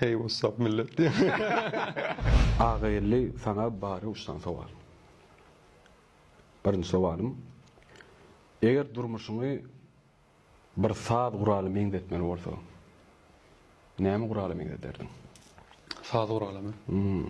Hey what's up millet diýen. Agageldi saňa bary uçdan sowal. Birinji sowalym, eger durmuşyňy bir saz guraly meňzetmeli bolsaň, näme gurala meňzederdiň? Saz guralamy? Hum.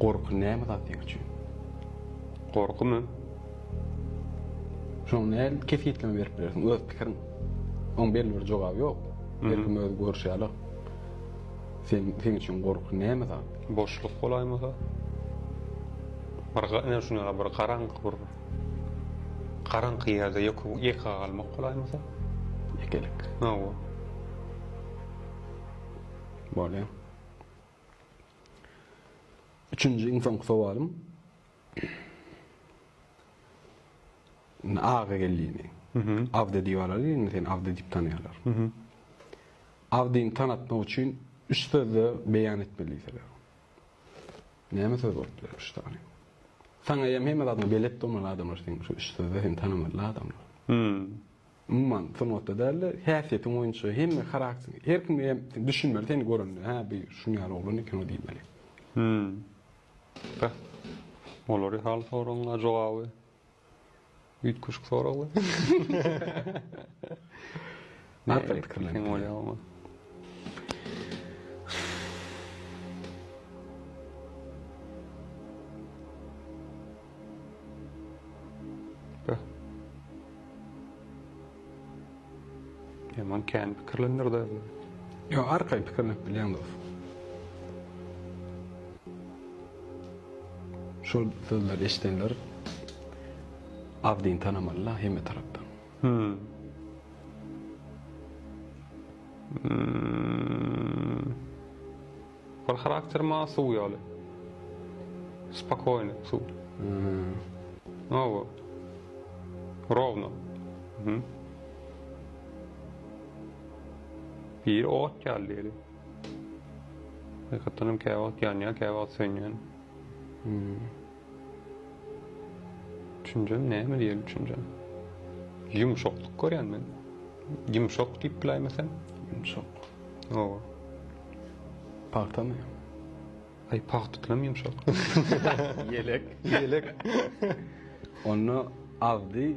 Gorky näme zat seň üçin? Gorkymy? Şoňa nädip kesgitleme berip bilersiň? Öz pikiriň. Oň belli bir jogaby ýok. Her kim öz görüşi ýaly. Sen seň üçin gorky näme zat? Boşluk bolaýmasa? Bir ene şuna ýaly bir garaňky bir garaňky ýerde ýeke ýeke galmak bolaýmasa? Ýekelik. Hawa. Bolýa. Üçünji iň soňky sowalym. Aga gelini. Abdy diýip alaly, indi seni Abdy diýip tanaýarlar. Abdyny tanatmak üçin üç sözde beýan etmeli diýseler. Näme söz bolup biler üç sany? Saňa hem hemme zadyňy belet bolmaly adamlar seni şu üç sözde seni tanamaly adamlar. Umuman, sungatda däl-de, häsiýetiň boýunça hemme harakteriň, her kim eýýäm düşünmeli seni görende, hä, bu şunuň ýaly oglan eken-ow diýmeli. Hüm. Beh. Olary hal soragyň-a jogaby üýtgeşik soraglar. Nätdir pikirlenip bolýar. Yaman kän pikirlendir de. Yo, arkay pikirlenip bilýän dos. Şol sözleri eşidenler Abdin tanamalylar hemme tarapdan. Hmm. hmm. Ol harakter maňa suw ýaly. Spokoýny suw. No bu. Rowno. Biri ot ýaly diýeli. Hakykatdanam käwagt ýanýar, käwagt sönýär. Üçünjäm näme diýeli üçünjäm. Ýumşaklyk görýän men. Ýumşak diýip biläýme sen. Ýumşak. Hawa. Pagtamy? Aý pagtadanam ýumşak. Ýelek. Ýelek. Onda agzy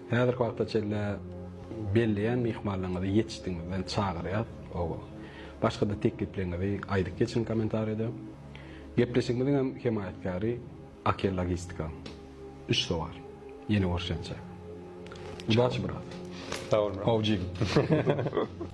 Häzirki wagta çenli belleýän myhmanlaryňyzy ýetişdigimizden çagyrýas. Oba. Başgada teklipleriňizi aýdyp geçiň kommentariýada. Gepleşigimiziň hem hemaýatkäri Akel Logistika. Üç sowar. Ýene görşençe. Udaçi brat. Sag bol brat. Awjyl.